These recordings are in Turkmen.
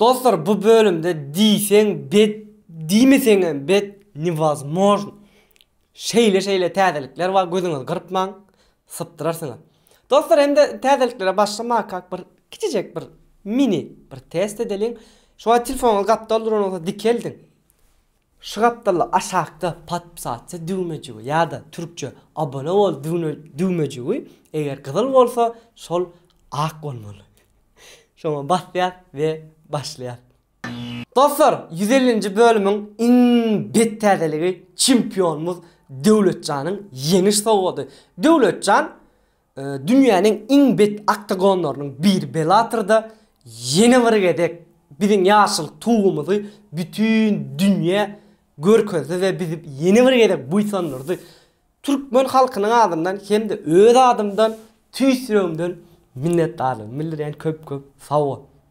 Dostlar bu bölümde diýseň bet diýmeseňem bet newozmojn şeýle şeýle täzelikler bar gözüňizi gyrpmaň sypdyrarsyňyz. Dostlar hem-de täzeliklere başlamakak bir kiçijek bir mini bir test edeliň. Şu wagt telefonuňyzy gapdal duran bolsa dikeldiň. Şu gapdalda aşakda Podpsatse düwmejigi ýa-da türkçe Abone bol düwmejigi eger gyzyl bolsa şol ak bolmaly. Şoňa basýas we başlaýas. Dostlar ýüz ellinji bölümiň iň bet täzeligi çempionymyz Döwletjanyň ýeňiş sowgady. Döwletjan Dünýäniň iň bet oktagonlarynyň biri Bellator-da ýene bir gezek biziň ýaşyl Tugumyzy bütin dünýä görkezdi we bizi ýene bir gezek buýsandyrdy. Türkmen halkynyň adyndan hem-de öz adymdan tüýs ýüregimden minnetdarlygymy bildirýän köp-köp sag bol.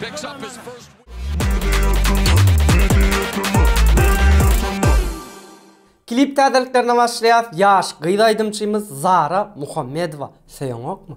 Picks up his first Klip täzeliklerine başlaýas. Ýaş gyz aýdymçymyz Zara Muhammedowa söýeňokmy?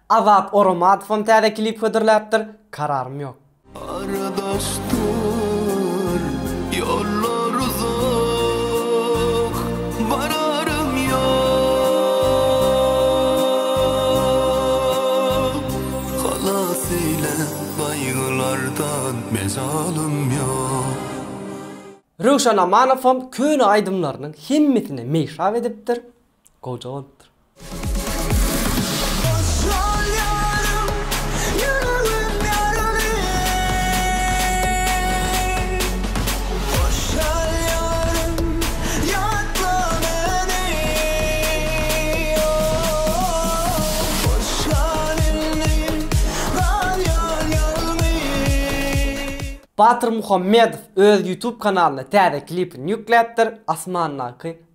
Azat Oramadowam täze klip hödürläpdir, kararym ýok. Aradasdyr ýollar uzak, bararym ýok. Halas eýle gaýgylardan, mejalym ýok. Röwşen Amanowam köne aýdymlarynyň hemmesine meýhab edipdir. Goja bolupdyr. Batyr Muhammedow öz YouTube kanalyna täze klipini ýükläpdir, Asmandaky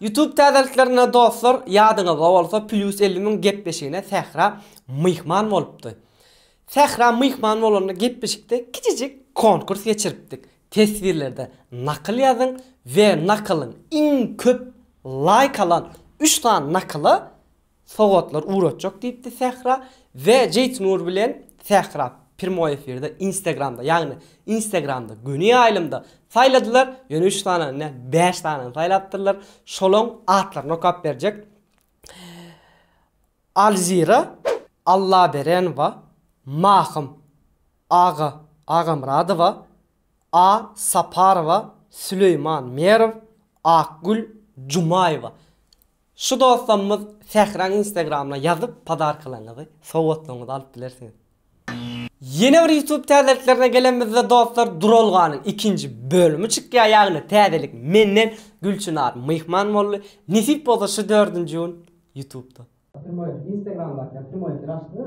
Youtube täzeliklerine dostlar ýadyňyzda bolsa Plýus elli müň gepleşigine Sähra myhman bolupdy. Sähra myhman bolanda gepleşikde kiçijik konkurs geçiripdik. Teswirlerde nakyl ýazyň we nakylyň iň köp laýk alan üç sany nakyla Sowgatlar ugratjak diýipdi Sähra we Jeýtnur bilen Sähra prýmoý efirde Instagramda ýagny Instagramda göni ýaýlymda saýladylar ýöne üç sanany däl bäş sanany saýlapdyrlar şolaň atlaryny okap berjek Alzira Allaberenowa Mahym Aga Agamyradowa A Saparowa Süleýman Merow Akgül Jumaýewa. Şu dostamyz Sähraň instagramyna ýazyp podarkalaryňyzy sowgatlygyňyzy alyp bilersiňiz. Ýene bir youtube täzeliklerine gelenimizde dostlar duralganyň ikinji bölümi çykýar ýagny täzelik menden Gülçynar myhman boldy nesip bolsa şu dördünji gün youtubda. Primoý instagramdaky primoý efir açdyňyz.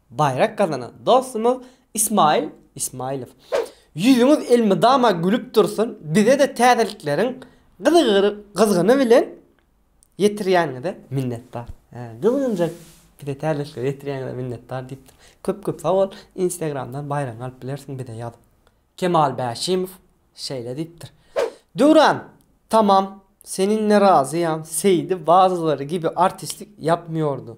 Baýrak gazanan dostumyz Ismail Ismailow. Ýüzüňiz elmydama gülüp dursun, bize-de täzelikleriň gyzygyny bilen ýetirýäniňize minnetdar. Hä, gyzgynjak bize täzelikleri ýetirýäňize minnetdar diýipdir. Köp köp sag bol, Instagramdan baýragyňy alyp bilersiň bize ýazyp. Kemal Bäşimow şeýle diýipdir. Döwran, tamam, seninle razıyam, Seýdi bazylary gibi artistlik yapmyordu.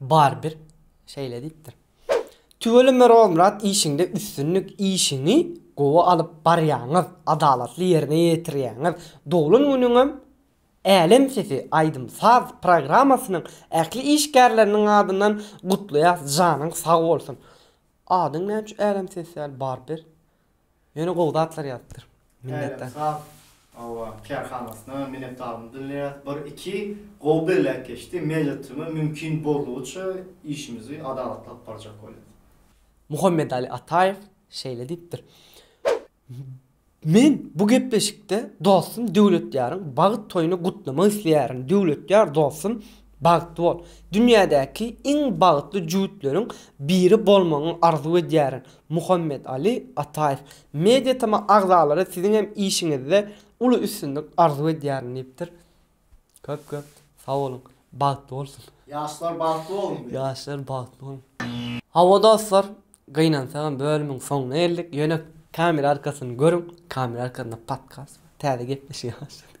Barybir şeýle diýipdir. Tüweleme Merolmyrat işiňde üstünlik işiňi gowy alyp barýaňyz adalatly ýerine ýetirýäňiz doglan günüňem Älem sesi aýdym saz programmasynyň ähli işgärleriniň adyndan gutlaýas janyň sag bolsun. Adyň näme üçin Älem sesi däl Barybir. Ýöne gowy zatlar ýazypdyr. Minnetdar. Älemsag awa kärhanasyna minnetdarlygymy bildirýäs. Bir iki gowy bellek geçdi. Meýletinçeme mümkin boldugyça işimizi adalatlap barjak bolýas. Muhammedali Ataýew şeýle diýipdir, Men bu gepleşikde dostum Döwletýaryň bagyt toýuny gutlamak isleýärin. Döwletýar dostum Bagtly bol. Dünýädäki iň bagtly jübütleriň biri bolmagyňy arzuw edýärin. Muhammet-Ali Ataýew. Mediatema agzalary siziň hem işiňizde uly üstünlik arzuw edýärin diýipdir. Köp köp sag boluň. Bagtly bolsun. Ýaşlar bagtly bolun diýip. Ýaşlar bagtly bolun. Hawa dostlar, gynansagam bölümiň soňuna geldik. Ýöne kamera arkasyny görüň. Kamera arkasynda podkast bar. Täze gepleşige başladyk.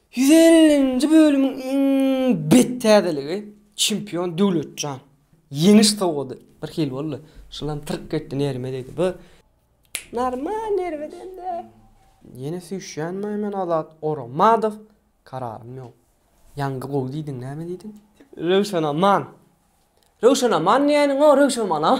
Ýüz ellinji bölümiň iň bet täzeligi çempion Döwletjan. Ýeňiş sowgady bir hili boldy. Şulam tyrk getdi nerime degdi. Bu normal nerime degdi. Ýene süýşýänmi men Azat Oramadow kararym ýok. Ýaňky gowy diýdiň näme diýdiň? Röwşenaman. Röwşenaman diýeniň o Röwşenmanam.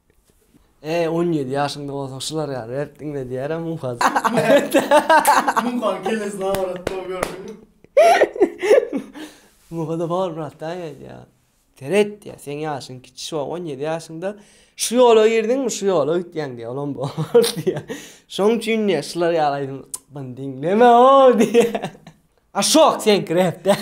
Eee on ýedi ýaşyňda bolsaň şular ýaly rep diňle diýerem Muhaz. Muhan kelesi nabarat dog gördüňmi. Muhada bar brat daýy aýdýa. Seret diýýä seň ýaşyň kiçi şu on ýedi ýaşyňda şu ýola girdiňmi şu ýola gitýäň diýýä olam bor diýýä. Şoň üçin diýýä şular ýaly aýdym yny diňleme oo diýýä. Aşok seňki rep däl.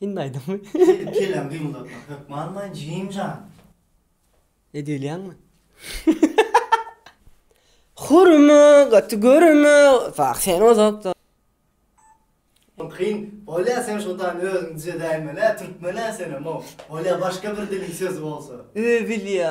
Hindi aýdymy. Kel kelem gymyldatmak hökm almaýyn jigim jan. Edilýäňmi? Hurma gaty görme wah sen uzakda. Kyn bolya sen şotaýyny özüň düzedäýmelä türkmenä senem o bolya başga bir diliň sözi bolsa. Öe bilýä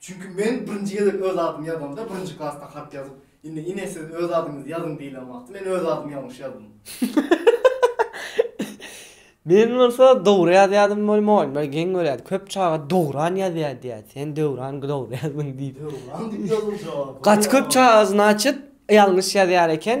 Çünki men birinji gezek öz adymy ýazanda, birinji klasda hat ýazyp, indi ine siz öz adyňyzy ýazyň diýlen wagty men öz adymy ýalňyş ýazdym. Men bolsa dogry ýazýadym we molymlar geň görýärdi. Köp çaga Dowran ýazýar diýýärdi. Sen Döwran dogry ýazdyň diýip. Döwran diýip ýazyljak. Gaty köp çaga znaçit ýalňyş ýazýar eken.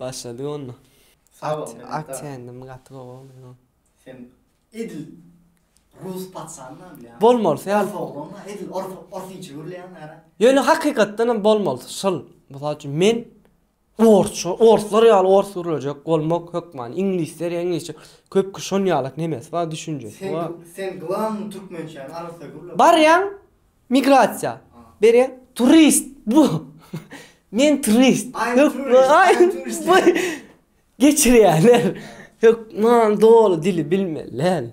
Başladyk onda. Sag bol, minnetdar. Aksiýa endimi gaty gowy boldy ýo. Sen edil rus patyşanyňam bilýäňmi? Bolmalysy ýaly. Ors oglanma edil orsyça gürleýäň ara. Ýöne hakykatdan hem bolmalysy şyl. Mysal üçin men orsça orslar ýaly ors gürlejek bolmak hökmany iňlisler ýa iňlisçe köp kişi şon ýaly nemesi bar düşünjesi bar. Sen sen glanny türkmençäni arassa gürle. Barýaň Migrasiýa. Bere turist bu. Men turist. Hökman. Geçirýärler. Hökman doly dili bilmeliler.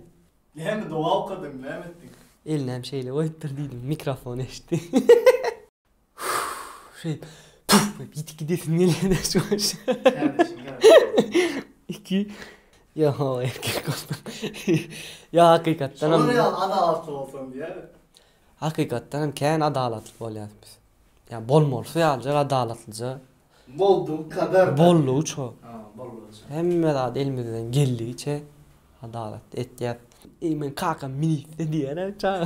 Näme doga okadyň näme etdiň. Elinem şeýle goýupdyr diýdim mikrofon eşitdi. Şeýdip puf diýip ýitip gidesim gelýär. Iki. Ýa-ha erkek bolsaň. Ýa hakykatdan hem. Şolar ýaly adalatly bolsaň diýýär. Hakykatdan hem kän adalatly bolýas biz. Ýa bolmalysy ýalyjak adalatlyja. Boldugy kadar. Boldugyça. Ha, boldugyça. Hemme zat elimizden geldigiçe adalatly etýäs. Eý, meň kakam ministr diýýär-ä çaga.